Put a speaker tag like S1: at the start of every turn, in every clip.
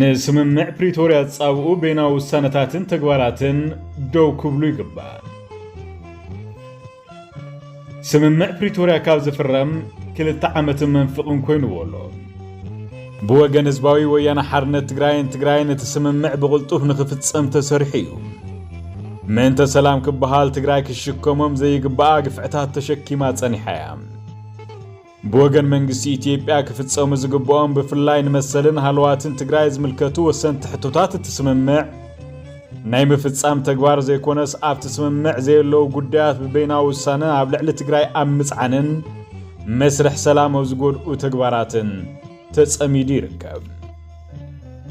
S1: ንስምምዕ ፕሪቶርያ ዝፃብኡ ቤናዊ ውሳነታትን ተግባራትን ደው ክብሉ ይግባእ። ስምምዕ ፕሪቶርያ ካብ ዝፍረም ክልተ ዓመትን መንፍቕን ኮይኑዎ ኣሎ። ብወገን ህዝባዊ ወያነ ሓርነት ትግራይን ትግራይን እቲ ስምምዕ ብቕልጡፍ ንኽፍፀም ተሰሪሑ እዩ። ምእንተ ሰላም ክበሃል ትግራይ ክሽከሞም ዘይግባኣ ግፍዕታት ተሸኪማ ጸኒሓ እያ። ብወገን መንግስቲ ኢትዮጵያ ክፍፀሙ ዝግብኦም ብፍላይ ንመሰልን ሃለዋትን ትግራይ ዝምልከቱ ወሰንቲ ሕቶታት እቲ ስምምዕ ናይ ምፍፃም ተግባር ዘይኮነስ ኣብቲ ስምምዕ ዘየለዉ ጉዳያት ብበይናዊ ውሳነ ኣብ ልዕሊ ትግራይ ኣብ ምፅዓንን መስርሕ ሰላም ኣብ ዝጎድኡ ተግባራትን ተፀሚዱ ይርከብ።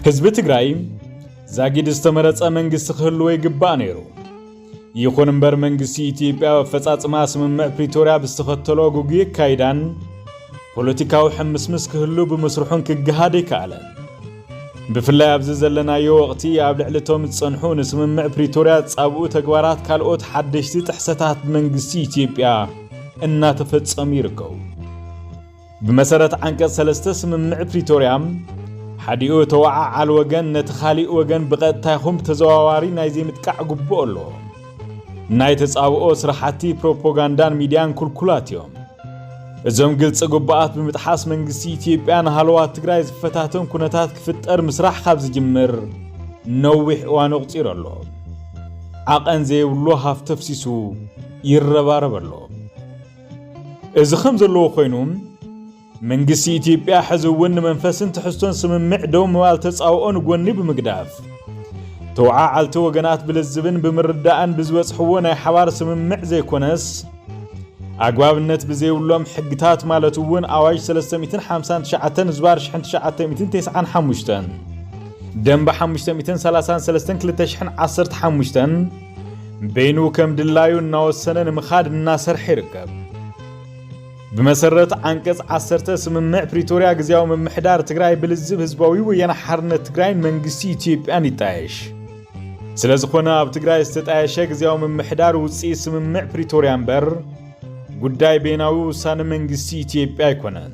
S1: ህዝቢ ትግራይ ዛጊድ ዝተመረፀ መንግስቲ ክህልዎ ይግባእ ነይሩ። ይኹን እምበር መንግስቲ ኢትዮጵያ ኣብ ኣፈጻጽማ ስምምዕ ፕሪቶርያ ብዝተኸተሎ ጉጉይ ኣካይዳን ፖለቲካዊ ሕምስምስ ክህሉ ብምስርሑን ክገሃድ ኣይከኣለን። ብፍላይ ኣብዚ ዘለናዮ ወቕቲ ኣብ ልዕሊ እቶም ዝጸንሑ ንስምምዕ ፕሪቶርያ ዝጻብኡ ተግባራት ካልኦት ሓደሽቲ ጥሕሰታት ብመንግስቲ ኢትዮጵያ እናተፈጸሙ ይርከቡ። ብመሰረት ዓንቀፅ ሰለስተ ስምምዕ ፕሪቶርያ ሓዲኡ ተወዓዓል ወገን ነቲ ካሊእ ወገን ብቐጥታ ይኹን ብተዘዋዋሪ ናይ ዘይምጥቃዕ ግቡእ ኣሎ። ናይ ተጻብኦ ስራሕቲ ፕሮፓጋንዳን ሚድያን ኩልኩላት እዮም። እዞም ግልፂ ግቡኣት ብምጥሓስ መንግስቲ ኢትዮጵያ ንሃለዋት ትግራይ ዝፈታተን ኩነታት ክፍጠር ምስራሕ ካብ ዝጅምር ነዊሕ እዋን ኣቑፂሩ ኣሎ። ዓቐን ዘይብሉ ሃፍቲ ኣፍሲሱ ይረባረብ ኣሎ። እዚ ከም ዘለዎ ኮይኑ መንግስቲ ኢትዮጵያ ሕዚ እውን ንመንፈስን ትሕዝቶን ስምምዕ ደው ምባል ተፃውኦ ንጎኒ ብምግዳፍ ተወዓዓልቲ ወገናት ብልዝብን ብምርዳእን ብዝበፅሕዎ ናይ ሓባር ስምምዕ ዘይኮነስ ኣግባብነት ብዘይብሎም ሕግታት ማለት እውን ኣዋጅ 359 ዝባር 1995 ደንበ 533 2015 በይኑ ከም ድላዩ እናወሰነ ንምኻድ እናሰርሐ ይርከብ። ብመሰረት ዓንቀፅ ዓሰርተ ስምምዕ ፕሪቶርያ ግዜያዊ ምምሕዳር ትግራይ ብልዝብ ህዝባዊ ወያነ ሓርነት ትግራይን መንግስቲ ኢትዮጵያን ይጣየሽ። ስለ ዝኾነ ኣብ ትግራይ ዝተጣየሸ ግዜያዊ ምምሕዳር ውፅኢት ስምምዕ ፕሪቶርያ እምበር ጉዳይ ቤናዊ ውሳነ መንግስቲ ኢትዮጵያ ኣይኮነን።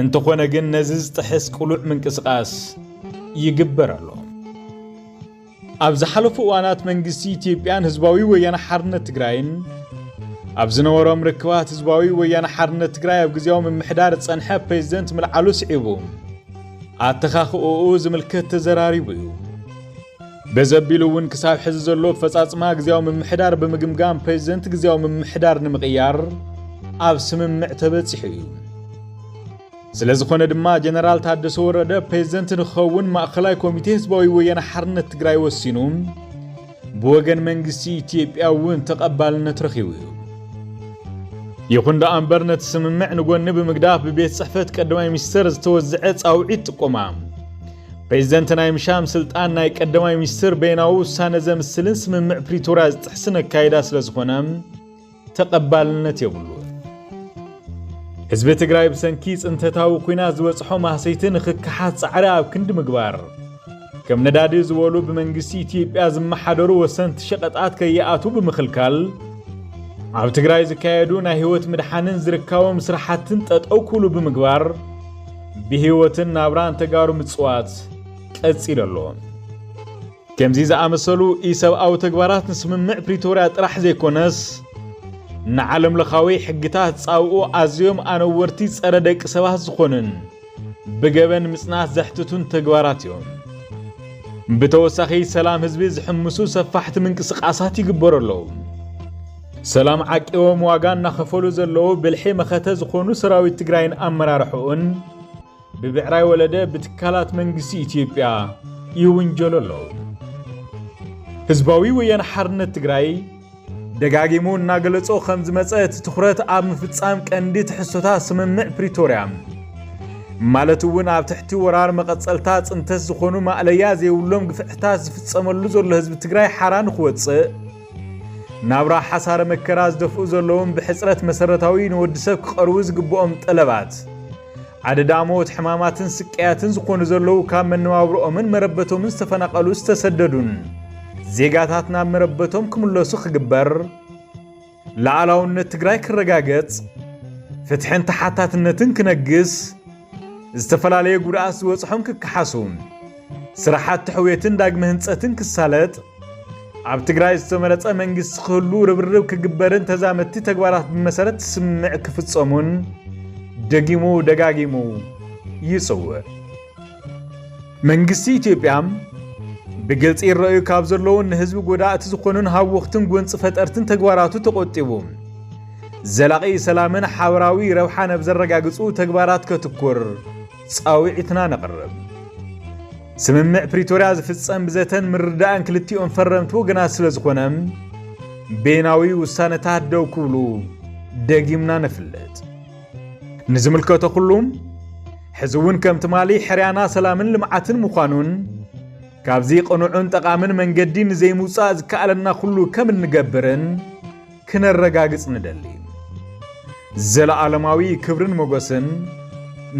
S1: እንተኾነ ግን ነዚ ዝጥሕስ ቅሉዕ ምንቅስቓስ ይግበር ኣሎ። ኣብ ዝሓለፉ እዋናት መንግስቲ ኢትዮጵያን ህዝባዊ ወያነ ሓርነት ትግራይን ኣብ ዝነበሮም ርክባት ህዝባዊ ወያነ ሓርነት ትግራይ ኣብ ግዜያዊ ምምሕዳር ዝጸንሐ ፕሬዚደንት ምልዓሉ ስዒቡ ኣተኻኽኦኡ ዝምልከት ተዘራሪቡ እዩ። በዘቢሉ እውን ክሳብ ሕዚ ዘሎ ፈጻጽማ ግዜያዊ ምምሕዳር ብምግምጋም ፕሬዚደንት ግዜያዊ ምምሕዳር ንምቕያር ኣብ ስምምዕ ተበጺሑ እዩ። ስለዝኾነ ድማ ጀነራል ታደሰ ወረደ ፕሬዝደንት ንክኸውን ማእኸላይ ኮሚቴ ህዝባዊ ወያነ ሓርነት ትግራይ ወሲኑ ብወገን መንግስቲ ኢትዮጵያ እውን ተቐባልነት ረኺቡ እዩ። ይኹን ደኣ እምበር ነቲ ስምምዕ ንጎኒ ብምግዳፍ ብቤት ጽሕፈት ቀዳማይ ሚኒስትር ዝተወዝዐ ጻውዒት ጥቆማ ፕሬዚደንት ናይ ምሻም ስልጣን ናይ ቀዳማይ ሚኒስትር በይናዊ ውሳነ ዘምስልን ስምምዕ ፕሪቶርያ ዝጥሕስን ኣካይዳ ስለዝኾነ ተቐባልነት የብሉን። ህዝቢ ትግራይ ብሰንኪ ፅንተታዊ ኩናት ዝበፅሖ ማህሰይቲ ንክከሓት ፃዕሪ ኣብ ክንዲ ምግባር ከም ነዳዲ ዝበሉ ብመንግስቲ ኢትዮጵያ ዝመሓደሩ ወሰንቲ ሸቐጣት ከይኣትዉ ብምኽልካል ኣብ ትግራይ ዝካየዱ ናይ ህይወት ምድሓንን ዝርካቦም ስራሕትን ጠጠው ክብሉ ብምግባር ብህይወትን ናብራን ተጋሩ ምፅዋት ቀፂሉ ኣሎ። ከምዚ ዝኣመሰሉ ኢሰብኣዊ ተግባራት ንስምምዕ ፕሪቶርያ ጥራሕ ዘይኮነስ ንዓለምለኻዊ ሕግታት ጻብኡ ኣዝዮም ኣነወርቲ ጸረ ደቂ ሰባት ዝኾኑን ብገበን ምጽናት ዘሕትቱን ተግባራት እዮም። ብተወሳኺ ሰላም ህዝቢ ዝሕምሱ ሰፋሕቲ ምንቅስቓሳት ይግበሩ ኣለዉ። ሰላም ዓቂቦም ዋጋ እናኸፈሉ ዘለዉ ብልሒ መኸተ ዝኾኑ ሰራዊት ትግራይን ኣመራርሕኡን ብብዕራይ ወለደ ብትካላት መንግስቲ ኢትዮጵያ ይውንጀሉ ኣለዉ። ህዝባዊ ወያነ ሓርነት ትግራይ ደጋጊሙ እናገለጾ ከም ዝመጸ እቲ ትኹረት ኣብ ምፍጻም ቀንዲ ትሕዝቶታት ስምምዕ ፕሪቶርያ ማለት እውን ኣብ ትሕቲ ወራር መቐጸልታ ጽንተት ዝኾኑ ማእለያ ዘይብሎም ግፍዕታት ዝፍጸመሉ ዘሎ ህዝቢ ትግራይ ሓራ ንክወፅእ ናብራ ሓሳረ መከራ ዝደፍኡ ዘለዎም ብሕፅረት መሰረታዊ ንወዲ ሰብ ክቐርቡ ዝግብኦም ጠለባት ኣደዳ ሞት፣ ሕማማትን ስቀያትን ዝኾኑ ዘለዉ ካብ መነባብሮኦምን መረበቶምን ዝተፈናቐሉ ዝተሰደዱን ዜጋታት ናብ መረበቶም ክምለሱ ክግበር፣ ላዕላውነት ትግራይ ክረጋገጽ፣ ፍትሕን ተሓታትነትን ክነግስ፣ ዝተፈላለየ ጉድኣት ዝበጽሖም ክከሓሱ ስራሕቲ ሕውየትን ዳግመ ህንፀትን ክሳለጥ ኣብ ትግራይ ዝተመረፀ መንግስቲ ክህሉ ርብርብ ክግበርን ተዛመድቲ ተግባራት ብመሰረት ስምምዕ ክፍፀሙን ደጊሙ ደጋጊሙ ይፅውዕ። መንግስቲ ኢትዮጵያ ብግልፂ ይረኣዩ ካብ ዘለውን ንህዝቢ ጎዳእቲ ዝኾኑን ሃወኽትን ጎንፂ ፈጠርትን ተግባራቱ ተቆጢቡ ዘላቒ ሰላምን ሓበራዊ ረብሓን ኣብ ዘረጋግፁ ተግባራት ከትኩር ጻውዒትና ነቕርብ። ስምምዕ ፕሪቶርያ ዝፍጸም ብዘተን ምርዳእን ክልቲኦም ፈረምቲ ወገናት ስለ ዝኾነ ቤናዊ ውሳነታት ደው ክብሉ ደጊምና ነፍልጥ። ንዝምልከቶ ኩሉ ሕዚ እውን ከም ትማሊ ሕርያና ሰላምን ልምዓትን ምዃኑን ካብዚ ቅኑዕን ጠቓምን መንገዲ ንዘይምውፃእ ዝከኣለና ኩሉ ከም እንገብርን ክነረጋግጽ ንደሊ። ዘለኣለማዊ ክብርን ሞገስን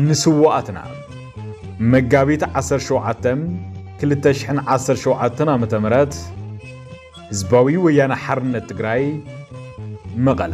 S1: ንስዋኣትና! መጋቢት 17 2017 ዓ.ም ህዝባዊ ወያነ ሓርነት ትግራይ መቐለ